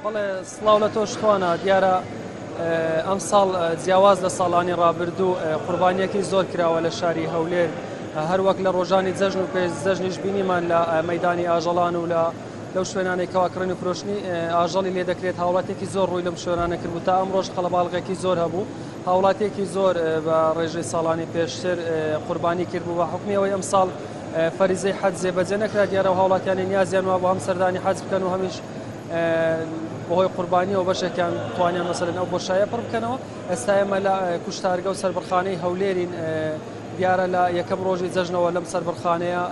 بەڵێ سڵاو لە تۆش توانا دیارە ئەم ساڵ جیاواز لە ساڵانی ڕابردوو قوربانیەکی زۆر کراوە لە شاری هەولێر هەروەک لە ڕۆژانی جەژن و پێش جەژنیش بینیمان لە مەدانی ئاژەڵان و لە لەو شوێنانێکەوە کڕین و فرۆشتنی ئاژەڵی لێ دەکرێت هاوڵاتێکی زۆر ڕووی لەم شوێنانە کرد و تا ئەم ڕۆژ قەڵەباڵغێکی زۆر هەبوو هاوڵاتێکی زۆر بە ڕێژەی ساڵانی پێشتر قوربانی کرد بوو بە حکمی ئەوەی ئەم ساڵ فەریزەی حەج جێبەجێ نەکرا دیارە و هاوڵاتیانی نیازیان وا بۆ هەم سەردانی حەج بکەن و هەمیش بەهۆی قوربانیەوە بەشێکیان توانیان مەسەرن ئەو بۆشایە پڕ بکەنەوە ئێستا ئێمە لە کوشتارگە و سربڕخانەی هەولێرین دیارە لە یەکەم ڕۆژی جەژنەوە لەم سربڕخانەیە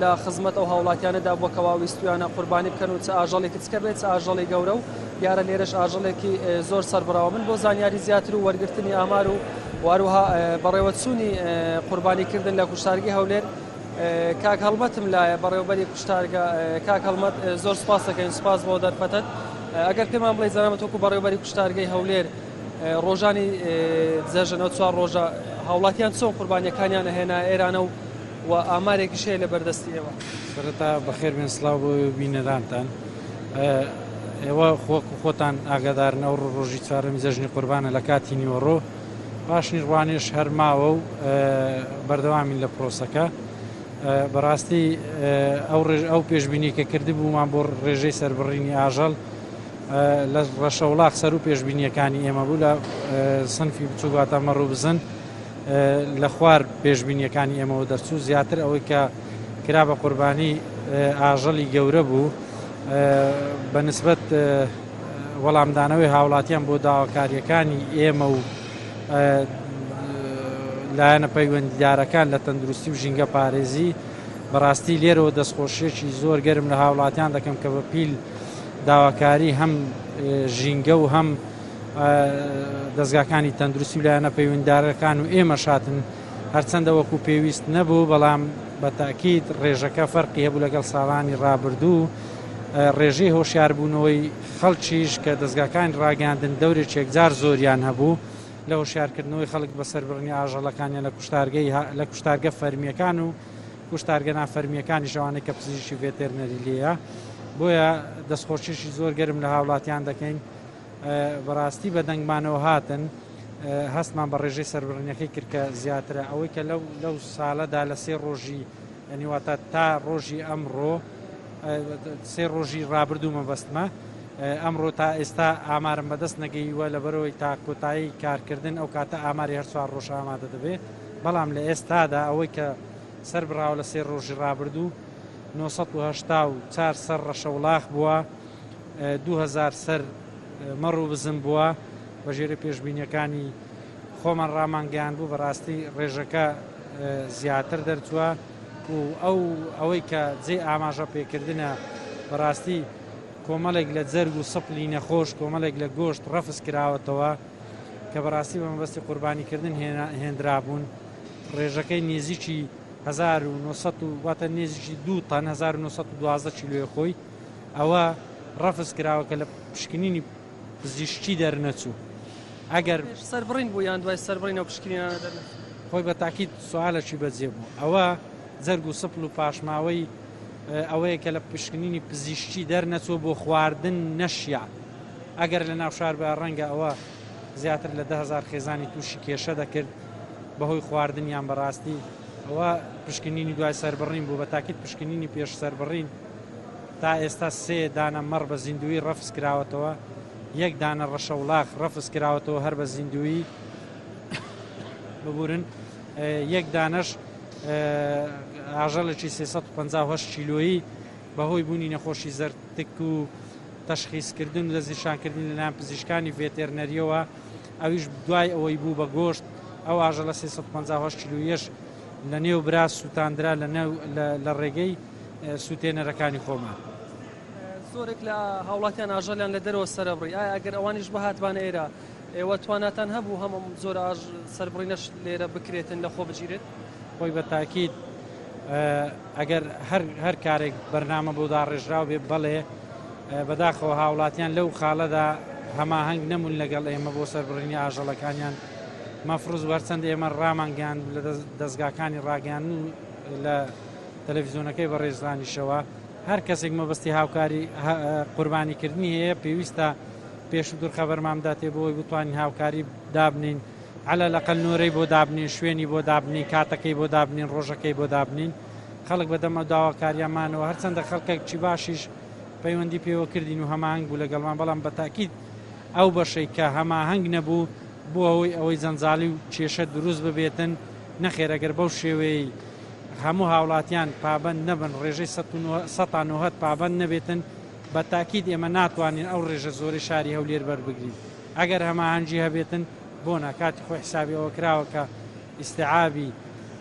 لە خزمەت ئەو هاوڵاتیانەدا بۆ کەوا ویستویانە قوربانی بکەن و چ ئاژەڵێکی چکە بێت ئاژەڵی گەورە و دیارە لێرەش ئاژەڵێکی زۆر سەربڕاوە من بۆ زانیاری زیاتر و وەرگرتنی ئامار و واروها بەڕێوەچوونی قوربانی کردن لە کوشتارگی هەولێر کاک هەڵمەتم لایە بەڕێوبەری کوشتارگە کاک هەڵمەت زۆر سپاسەکەین سپاس بۆ دەرفەتت ئەگەر پێمان بڵێ زەرامەت وەکو بەڕێوبەری کوشتارگەی هەولێر ڕۆژانی جەژنەوە چوار ڕۆژە هاوڵاتیان چۆن قوربانیەکانیان هێنا ئێرانە و و ئامارێکیش هەیە لە بەردەستی ئێوە سەرەتا بەخێر بێن سلااو بۆ بینەرانتان ئێوە خۆک و خۆتان ئاگادارن ئەو ڕۆژی چوارەمی جەژنی قوربانە لە کاتی نیوەڕۆ پاشنی ڕوانێش هەرماوە و بەردەوامین لە پرۆسەکە بەڕاستی ئەو ڕێژ ئەو پێشببینی کە کرد بوومان بۆ ڕێژەی سربڕینی ئاژەڵ لە ڕەشە وڵات سەر و پێشببینیەکانی ئێمە بوو لە سنفی بچووگاتە مەڕوو بزن لە خوار پێشببینیەکانی ئێمەەوە دەرچوو زیاتر ئەوەی کە کرا بە قوربانی ئاژەڵی گەورە بوو بە نسبەت وەڵامدانەوەی هاوڵاتیان بۆ داواکاریەکانی ئێمە و لایەنە پەیوەندیدارەکان لە تەندروستی و ژینگە پارێزی بەڕاستی لێرەوە دەستخۆشیەکی زۆر گەرم لە هاوڵاتیان دەکەم کە بە پیل داواکاری هەم ژینگە و هەم دەستگاکانی تەندروستی و لایەنە پەیوەنددارەکان و ئێمە شاتن هەرچەندە وەکو پێویست نەبوو، بەڵام بە تەئکید ڕێژەکە فەرقی هەبوو لەگەڵ ساڵانی ڕابردوو. ڕێژەی هۆشیاربوونەوەی خەڵکیش کە دەزگاکانی ڕاگەیاندن دەورێکی یەکجار زۆریان هەبوو لە هۆشیارکردنەوەی خەڵک بە سەربڕینی ئاژەڵەکانیان لە کوشتارگەی لە کوشتارگە فەرمییەکان و کوشتارگە نافەرمییەکانیش ئەوانەی کە پزیشکی ڤێتێرنەری لێیە. بۆیە دەستخۆشیشی زۆر گەرم لە هاوڵاتیان دەکەین. بەڕاستی بە دەنگمانەوە هاتن. هەستمان بە ڕێژەی سەربڕینەکەی کرد کە زیاترە ئەوەی کە لەو لەو ساڵەدا لە سێ ڕۆژی ینی واتە تا ڕۆژی ئەمڕۆ سێ ڕۆژی ڕابردوو مەبەستمە ئەمڕۆ تا ئێستا ئامارم بەدەست نەگەیوە لە بەرەوەی تا کۆتایی کارکردن ئەو کاتە ئاماری هەر چوار ڕۆژ ئامادە دەبێت بەڵام لە ئێستادا ئەوەی کە سەر بڕاو لە سێ ڕۆژی ڕابردوو 1970 چار سەر ڕەشەوڵاخ بووە دوو هەزار سەر مەڕ و بزن بووە بە ژێرە پێشبینیەکانی خۆمان ڕامان گەیان بوو بەڕاستی ڕێژەکە زیاتر دەرچووە و ئەو ئەوەی کە جێ ئاماژە پێکردە بەڕاستی کۆمەڵێک لە جەرگ و سەپلی نەخۆش کۆمەڵێک لە گۆشت ڕەفز کراوەتەوە کە بەڕاستی بە مەبەستی قوربانیکردن هێنرابوون ڕێژەکەی نێزیکی 1970 واتە نێزیکی دوو تەن 1912 کیلوێ خۆی ئەوە ڕەفز کراوە کە لە پشکنینی پزیشکی دەرنەچوو ئەگەر پێش سەربڕین بوو یان دوای سەربڕین ئەو پشکنینانە دەرنەچوو؟ خۆی بە تاکید سوالەکی بەجێ بوو ئەوە جەرگ و سپڵ و پاشماوەی ئەوەیە کە لە پشکنینی پزیشکی دەرنەچوو بۆ خواردن نەشیا ئەگەر لە ناو شار بە ڕەنگە ئەوە زیاتر لە دە هەزار خێزانی تووشی کێشە دەکرد بەهۆی خواردنیان بەڕاستی ئەوە پشکنینی دوای سەربڕین بوو بە تاکید پشکنینی پێش سەربڕین تا ئێستا سێ دانە مەڕ بە زیندوویی ڕەفز کراوەتەوە، یەک دانە ڕەشەوڵاخ ڕەفز کراوەتەوە هەر بە زیندوویی، ببورن، یەک دانەش ئاژەڵێکی سێ سەد و پەنجا و هەشت کیلۆیی بە هۆی بوونی نەخۆشی زەرد تک و تەشخیسکردن و دەستنیشانکردنی لە لایەن پزیشکانی ڤێتێرنەرییەوە ئەویش دوای ئەوەی بوو بە گۆشت، ئەو ئاژەڵە سێ سەد و پەنجا و هەشت کیلۆییەش لەنێو برا سووتاندرا لە ڕێگەی. سوتێنەرەکانی خۆمان. زۆرێک لە هاوڵاتیان ئاژەڵیان لە دەرەوە سەرەبڕی، ئایا ئەگەر ئەوانیش بهاتبانە ئێرە، ئێوە تواناتان هەبوو هەم ئەم جۆرە سەربڕینەش لێرە بکرێتن لەخۆ بگیرێت؟ خۆی بە تاکید ئەگەر هەر کارێک بەرنامە بۆ داڕێژراو بێ بەڵێ بەداخەوە هاوڵاتیان لەو خاڵەدا هەماهەنگ نەمون لەگەڵ ئێمە بۆ سەربڕینی ئاژەڵەکانیان مەفرز وەرچەند ئێمە ڕامانگەیان لە دەستگاکانی ڕاگەیان و لە تەلەفیزۆنەکەی بەڕێز دانیشەوە هەر کەسێک مەبەستی هاوکاری قوربانی کردنی هەیە پێویستە پێش و دوور خەبەرمان بداتێ بۆی بتوانین هاوکاری دابنین على لەقل نۆرەی بۆ دابنین شوێنی بۆ دابنین کاتەکەی بۆ دابنین ڕۆژەکەی بۆ دابنین خەڵک بەدەمە داواکاریانمانەوە هەرچەندە خەڵکێکی باشیش پەیوەندی پێوە کردین و هەماهنگ بوو لەگەڵمان بەڵام بە تاکیید ئەو بەشەی کە هەماهنگ نەبوو بۆ ئەوەی ئەوەی جەنجالی و کێشە دروست ببێتن نەخێرەگەر بەو شێوەیەی هەموو هاوڵاتیان پابەند نەبن، ڕێژەی سەتا نۆهەد پابەند نەبێتن، بە تاکید ئێمە ناتوانین ئەو ڕێژە زۆرەی شاری هەولێر بەربگرین، ئەگەر هەماهەنگی هەبێتن بۆنە، کاتی خۆی حسابی ئەوە کراوە کە ئیستیعابی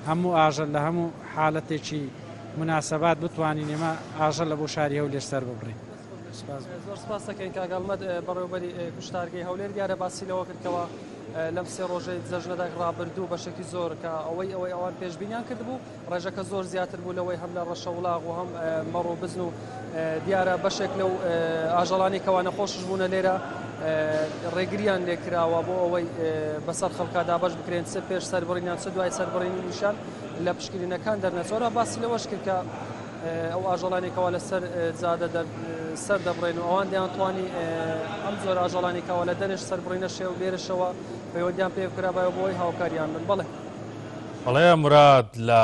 هەموو ئاژەل لە هەموو حالەتێکی مناسبات بتوانین ئێمە ئاژەلە بۆ شاری هەولێر سەرببڕین. زۆر سپاست دەکەین کاک ئەڵمەت بەڕێوبەری کوشتارگەی هەولێر دیارە باسی لەوە کردکەوە لەم سێ ڕۆژەی جەژنەدا ڕابردوو بەشێکی زۆر کە ئەوەی ئەوەی ئەوان پێشبینیان کردبوو ڕێژەکە زۆر زیاتر بوو لەوەی هەم لە ڕەشە وڵاغ و هەم مەڕ و بزن و دیارە بەشێک لەو ئاژەڵانی کەوانە خۆشش بوونە لێرە ڕێگریان لێکراوە بۆ ئەوەی بەسەر خەڵکا دابش بکرێن سەر پێش سەربڕینیان سە دوای سەربڕینیشان لە پشکرینەکان دەرنەچۆرە باسی لەوەش کرد کە ئەو ئاژەڵانەی کەوا لەسەر جادە سەر دەبڕێن و ئەوان دەیان توانی ئەم زۆر ئاژەڵانی کەوا لە دەرش سەربڕینە شێ و لێرشەوە پەیوەندیان پێ کرابایەوە بۆی هاوکاریان من بڵێ بەڵێ مراد لە